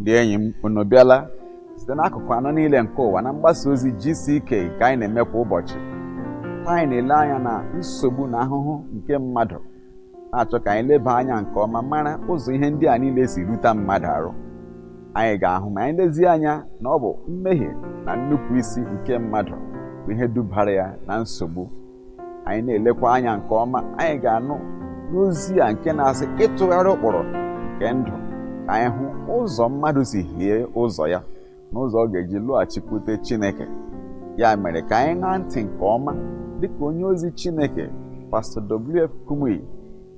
ndị enyi m unu bịala site n'akụkụ anọ niile nke ụwa na mgbasa ozi GCK ka anyị na-eme kwa ụbọchị ka anyị na-ele anya na nsogbu na ahụhụ nke mmadụ na-achọ ka anyị leba anya nke ọma mara ụzọ ihe ndị a niile si ruta mmadụ arụ anyị ga-ahụ ma anyị lezie anya na ọ bụ mmehie na nnupụisi nke mmadụ bụ ihe dubara ya na nsogbu anyị na-elekwa anya nke ọma anyị ga-anụ n'ozi a nke na-asị ịtụgharị ụkpụrụ nke ndụ ka anyị hụ ụzọ mmadụ si hie ụzọ ya na ụzọ ọ ga-eji lọghachikwute Chineke ya mere ka anyị ṅaa ntị nke ọma dịka onye ozi Chineke pastọ WF Kumuyi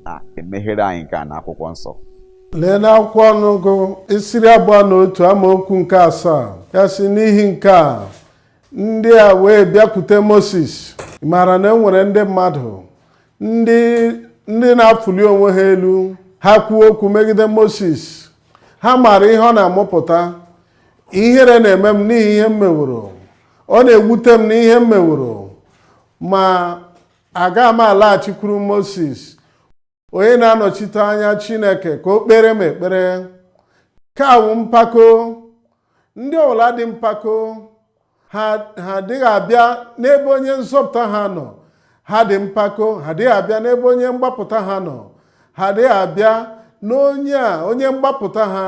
na-emeghere anyị nke a n'akwụkwọ nsọ lee n'akwụkwọ ọnụọgụ isi iri abụọ na otu amaokwu nke asaa ya sị n'ihi nke a ndị a wee bịakwute Moses ị maara na e nwere ndị mmadụ ndị na-afụli onwe ha elu ha kwuo okwu megide Moses ha maara ihe ọ na-amụpụta ihere na-eme m n'ihi ihe m meworo ọ na-ewute m n'ihe m meworo ma aga m alaghachikwuru Moses onye na-anọchite anya chineke ka o kpere m ekpere nke a wụ mpako ndị ọbụla dị mpako ha adịghị abịa n'ebe onye nzọpụta ha nọ ha dị mpako ha adịghị abịa n'ebe onye mgbapụta ha nọ ha adịghị abịa n'onye a onye mgbapụta ha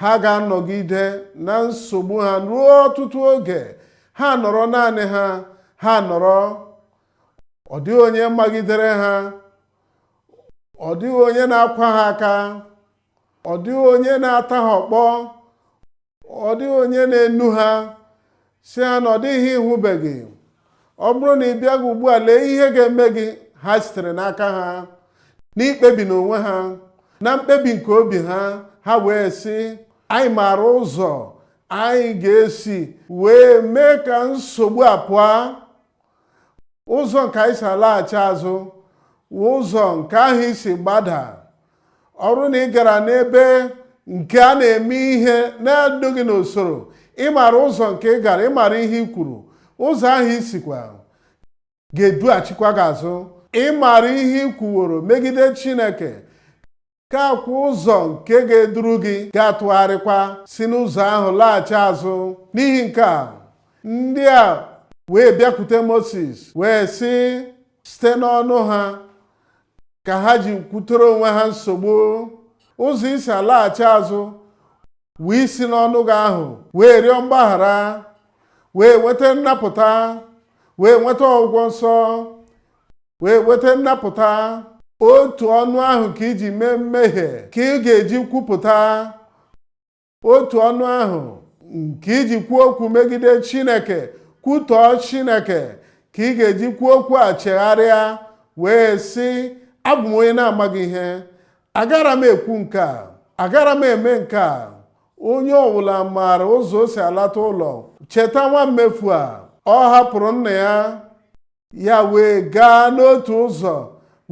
ha ga-anọgide na nsogbu ha ruo ọtụtụ oge ha nọrọ naanị ha ha nọrọ ọ dịghị onye magidere ha ọ dịghị onye na-akwa ha aka ọ dịghị onye na-ata ha ọkpọ ọ dịghị onye na-enu ha sị ha na ọ dịghị ihe ị hụbeghị ọ bụrụ na ị bịaghị ugbu a lee ihe ga-eme gị ha sitere n'aka ha n'ikpebi n'onwe ha na mkpebi nke obi ha ha wee sị anyị maara ụzọ anyị ga-esi wee mee ka nsogbu a pụọ ụzọ nke i si alaghachi azụ wụ ụzọ nke ahụ i si gbada ọ bụrụ na ị gara n'ebe nke a na-eme ihe na-edoghị n'usoro ị maara ụzọ nke ị gara ị maara ihe i kwuru ụzọ ahụ i sikwa ga-edughachikwa gị azụ ị maara ihe i kwuworo megide Chineke nke a wụ ụzọ nke ga-eduru gị ga-atụgharịkwa si n'ụzọ ahụ laghachi azụ n'ihi nke a ndị a wee bịakwute Moses wee sị site n'ọnụ ha ka ha ji kwutere onwe ha nsogbu ụzọ i si alaghachi azụ wụ isi n'ọnụ gị ahụ wee rịọ mgbaghara wee nweta nnapụta wee nweta ọgwụgwọ nsọ wee nweta nnapụta otu ọnụ ahụ ka i ji mee mmehie ka ị ga-eji kwupụta otu ọnụ ahụ nke i ji kwuo okwu megide Chineke kwutọọ Chineke ka ị ga-eji kwuo okwu a chegharịa wee sị abụ m onye na-amaghị ihe agara m ekwu nke a agara m eme nke a onye ọbụla maara ụzọ o si alata ụlọ cheta nwa mmefu a ọ hapụrụ nna ya ya wee gaa n'otu ụzọ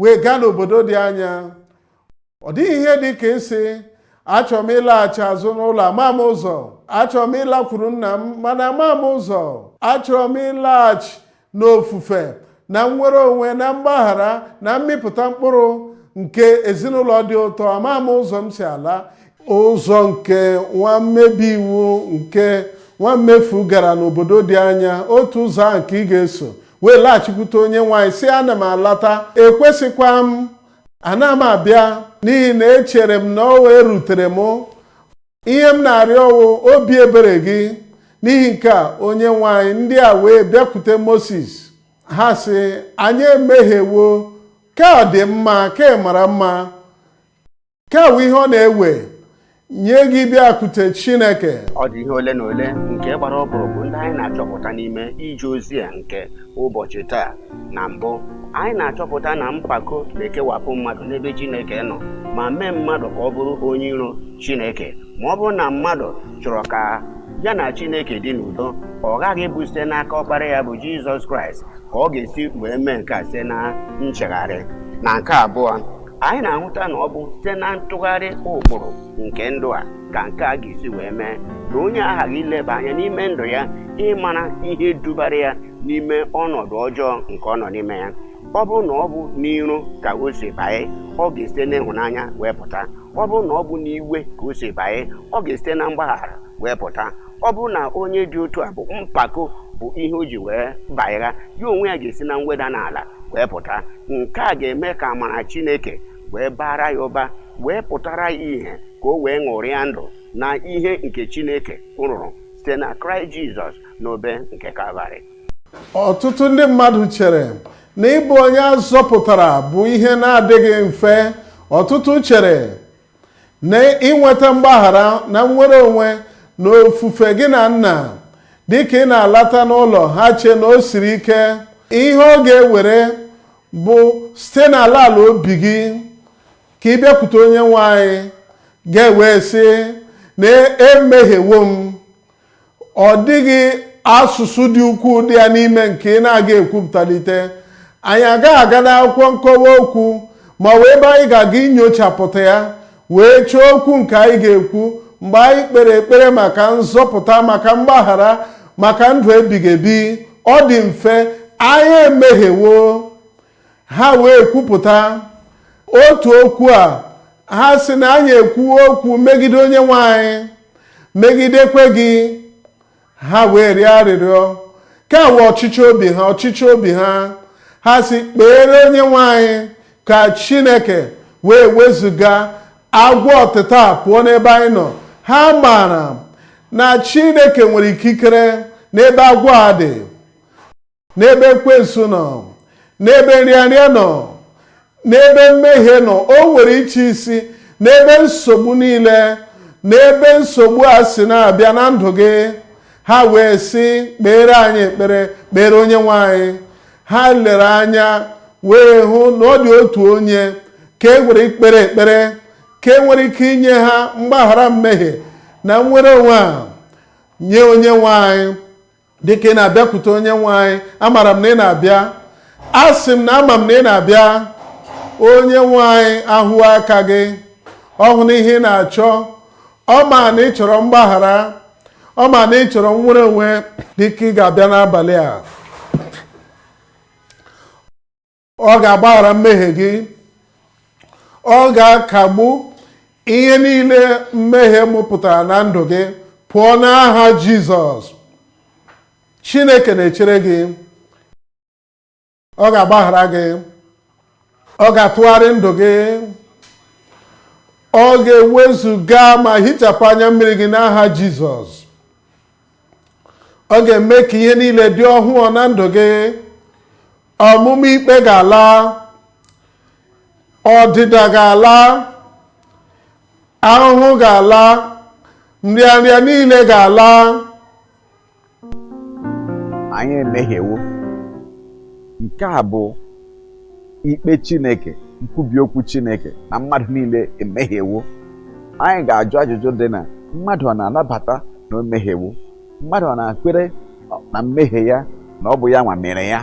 wee gaa n'obodo dị anya ọ dịghị ihe dị ka ịsị achọrọ m ịlaghachi azụ n'ụlọ ama m ụzọ achọrọ m ịlakwuru nna m mana ama m ụzọ achọrọ m ịlaghachi n'ofufe na nnwere onwe na mgbaghara na mmịpụta mkpụrụ nke ezinụlọ dị ụtọ ama m ụzọ m si ala ụzọ nke nwa mmebi iwu nke nwa mmefu gara n'obodo dị anya otu ụzọ ahụ ka ị ga-eso wee laghachikwute onye nwe anyị sị ana m alata ekwesịkwa m ana m abịa n'ihi na echere m na ọ wụ ihe rutere m ihe m na-arịọ wụ obi ebere gị n'ihi nke a onye nwe anyị ndị a wee bịakwute moses ha sị anyị emehiewo ka ọ dị mma ka ị mara mma nke a wụ ihe ọ na-ewe nye gị ịbịakwute Chineke ọ dị ihe ole na ole nke gbara ọkpụrụkpụ ndị anyị na-achọpụta n'ime ije ozi a nke ụbọchị taa na mbụ anyị na-achọpụta na mpako na-ekewapụ mmadụ n'ebe Chineke nọ ma mee mmadụ ka ọ bụrụ onye iro Chineke ma ọ bụrụ na mmadụ chọrọ ka ya na Chineke dị n'udo ọ ghaghị ịbụ site n'aka ọkpara ya bụ Jizọs Kraịst ka ọ ga-esi wee mee nke a site na nchegharị na nke abụọ anyị na-ahụta na ọ bụ site na ntụgharị ụkpụrụ nke ndụ a ka nke a ga-esi wee mee na onye aghaghị ileba anya n'ime ndụ ya ịmara ihe dubara ya n'ime ọnọdụ ọjọọ nke ọ nọ n'ime ya ọ bụrụ na ọ bụ n'iro ka o si banye ọ ga-esite n'ịhụnanya wee pụta ọ bụrụ na ọ bụ n'iwe ka o si banye ọ ga-esite na mgbaghara wee pụta ọ bụrụ na onye dị otu a bụ mpako bụ ihe o ji wee banye ya onwe ya ga-esi na mweda n'ala wee pụta nke a ga-eme ka amara Chineke wee baara ya ụba wee pụtara ya ihe ka o wee ṅụrịa ndụ na ihe nke Chineke rụrụ site na Kraịst Jizọs n'obe nke Kalvarị ọtụtụ ndị mmadụ chere na ịbụ onye a zọpụtara bụ ihe na-adịghị mfe ọtụtụ chere na inweta mgbaghara na nnwere onwe na ofufe gị na nna dịka ị na-alata n'ụlọ ha chee na o siri ike ihe ọ ga-ewere bụ site n'ala ala obi gị ka ị bịakwute onye nwe anyị ga-ewee sị na emehiewo m ọ dịghị asụsụ dị ukwuu dị ya n'ime nke ị na-aga ekwupụtalite anyị agaghị aga n'akwụkwọ nkọwa okwu ma ọ bụ ebe anyị ga-aga inyochapụta ya wee chọọ okwu nke anyị ga-ekwu mgbe anyị kpere ekpere maka nzọpụta maka mgbaghara maka ndụ ebighị ebi ọ dị mfe anyị emehiewo ha wee kwupụta otu okwu a ha sị na anyị ekwuwo okwu megide onye nwe anyị megidekwa gị ha wee rịọ arịrịọ kọwaa ọchịchọ obi ha ọchịchọ obi ha ha sị kpeere onye nwe anyị ka chineke wee wezuga agwọ ọtịta pụọ n'ebe anyị nọ ha maara na chineke nwere ikikere n'ebe agwọ a dị n'ebe ekwensu nọ n'ebe nrịanrịa nọ n'ebe mmehie nọ o nwere ịchị isi n'ebe nsogbu niile n'ebe nsogbu a si na-abịa na ndụ gị ha wee sị kpeere anyị ekpere kpeere onye nwe anyị ha lere anya wee hụ na ọ dị otu onye ka e nwere ikpere ekpere ka e nwere ike inye ha mgbaghara mmehie na nnwere onwe a nye onye nwe anyị dịka ị na-abịakwute onye nwe anyị amara m na ị na-abịa asị m na ama m na ị na-abịa onye nwe anyị ahụ aka gị ọ hụna ihe ị na-achọ ọ ma na ị chọrọ mgbaghara ọ ma na ị chọrọ nnwere onwe dịka ị ga-abịa n'abalị a ọ ga-agbaghara mmehie gị ọ ga-akagbu ihe niile mmehie mụpụtara na ndụ gị pụọ n'aha Jizọs Chineke na-echere gị ọ ga-agbaghara gị ọ ga-atụgharị ndụ gị ọ ga-ewezuga ma hichapụ anya mmiri gị n'aha Jizọs ọ ga-eme ka ihe niile dị ọhụụ na ndụ gị ọmụma ikpe ga-ala ọdịda ga-ala ahụhụ ga-ala nrịanrịa niile ga-ala anyị emehiewo nke a bụ ikpe Chineke nkwubi okwu Chineke na mmadụ niile emehiewo anyị ga-ajụ ajụjụ dị na mmadụ ọ na-anabata na o mehiewo mmadụ ọ na-ekwere na mmehie ya na ọ bụ ya nwa mere ya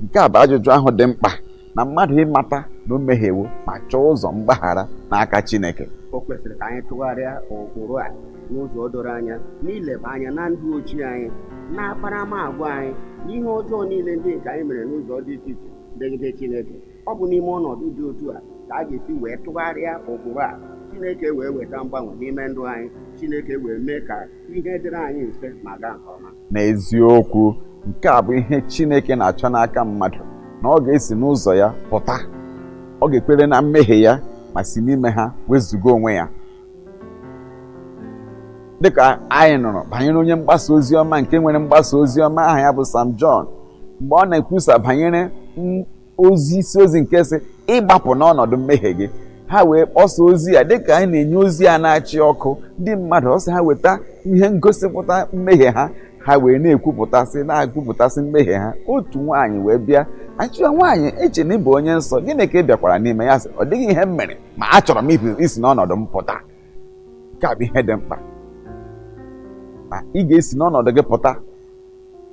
nke a bụ ajụjụ ahụ dị mkpa na mmadụ ịmata na o mehiewo ma chọọ ụzọ mgbaghara n'aka Chineke o kwesịrị ka anyị tụgharịa ụkpụrụ a n'ụzọ doro anya n'ileba anya na ndụ ochie anyị na akparamagwa anyị na ihe ọjọọ niile ndị nke anyị mere n'ụzọ dị iche iche megide Chineke ọ bụ n'ime ọnọdụ dị otu a ka a ga-esi wee tụgharịa ụkpụrụ a Chineke wee weta mgbanwe n'ime ndụ anyị Chineke wee mee ka ihe dịrị anyị mfe ma gaa nke ọma n'eziokwu nke a bụ ihe Chineke na-achọ n'aka mmadụ na ọ ga-esi n'ụzọ ya pụta ọ ga-ekwere na mmehie ya ma si n'ime ha wezụga onwe ya dịka anyị nụrụ banyere onye mgbasa ozi ọma nke nwere mgbasa ozi ọma aha ya bụ Sam John mgbe ọ na-ekwusa banyere ozi isi ozi nke sị ịgbapụ n'ọnọdụ mmehie gị ha wee kpọsa ozi ya dịka anyị na-enye ozi ya na-achịkọ ndị mmadụ ọ sị ha weta ihe ngosipụta mmehie ha ha wee na-ekwupụtasị na-ekwupụtasị mmehie ha otu nwaanyị wee bịa a sị ya nwaanyị eche na ị bụ onye nsọ gịnị ka ị bịakwara n'ime ya sị ọ dịghị ihe m mere ma achọrọ m isi n'ọnọdụ m pụta nke a bụ ihe dị mkpa ma ị ga-esi n'ọnọdụ gị pụta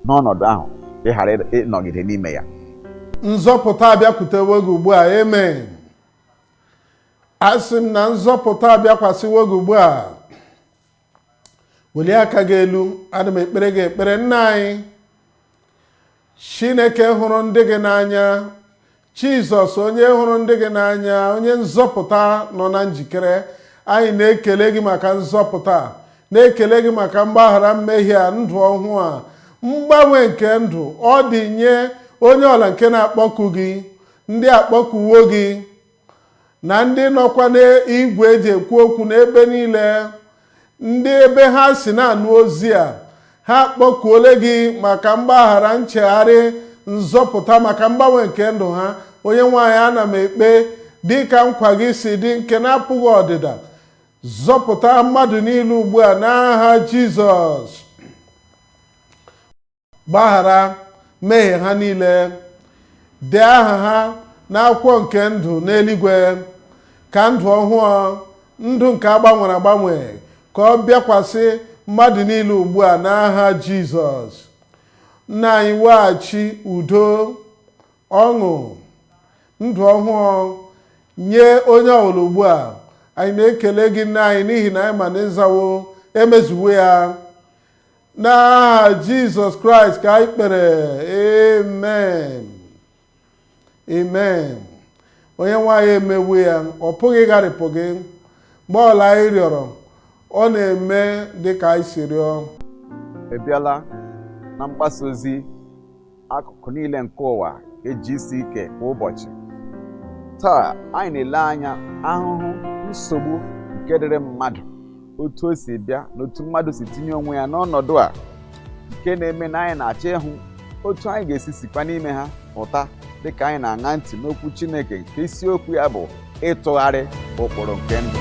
n'ọnọdụ ahụ ị ghara ịnọgide n'ime ya nzọpụta abịakwutewo gị ugbu a amen asị m na nzọpụta abịakwasịwo gị ugbu a welie aka gị elu ana m ekpere gị ekpere nna anyị chineke hụrụ ndị gị n'anya jizọs onye hụrụ ndị gị n'anya onye nzọpụta nọ na njikere anyị na-ekele gị maka nzọpụta na-ekele gị maka mgbaghara mmehie a ndụ ọhụụ a mgbanwe nke ndụ ọ dị nye onye ọbụla nke na-akpọku gị ndị akpọkuwo gị na ndị nọkwa n'igwe eji ekwu okwu n'ebe niile ndị ebe ha si na-anụ ozi a ha akpọkuole gị maka mgbaghara nchegharị nzọpụta maka mgbanwe nke ndụ ha Onyenweanyị ana m ekpe dị ka nkwa gị si dị nke na-apụghị ọdịda zọpụta mmadụ niile ugbu a n'aha Jizọs gbaghara mmehie ha niile dee aha ha n'akwụkwọ nke ndụ n'eluigwe ka ndụ ọhụụ ndụ nke agbanwere agbanwe ka ọ bịakwasị mmadụ niile ugbu a n'aha jizọs nna anyị weghachi udo ọṅụ ndụ ọhụụ nye onye ọbụla ugbu a anyị na-ekele gị nna anyị n'ihi na anyị ma na ị zawo emezuwo ya n'aha jizọs kraịst ka anyị kpere amen amen onyenweanyị emewo ya ọ pụghị ịgharịpụ gị mgbe ọbụla anyị rịọrọ ọ na-eme dị ka anyị si rịọ ị bịala na mgbasa ozi akụkụ niile nke ụwa nke GCK kwa ụbọchị taa anyị na-ele anya ahụhụ nsogbu nke dịrị mmadụ otu o si bịa na otu mmadụ si tinye onwe ya n'ọnọdụ a nke na-eme na anyị na-achọ ịhụ otu anyị ga-esi sikwa n'ime ha pụta dịka anyị na-aṅa ntị n'okwu Chineke nke isiokwu ya bụ ịtụgharị ụkpụrụ nke ndụ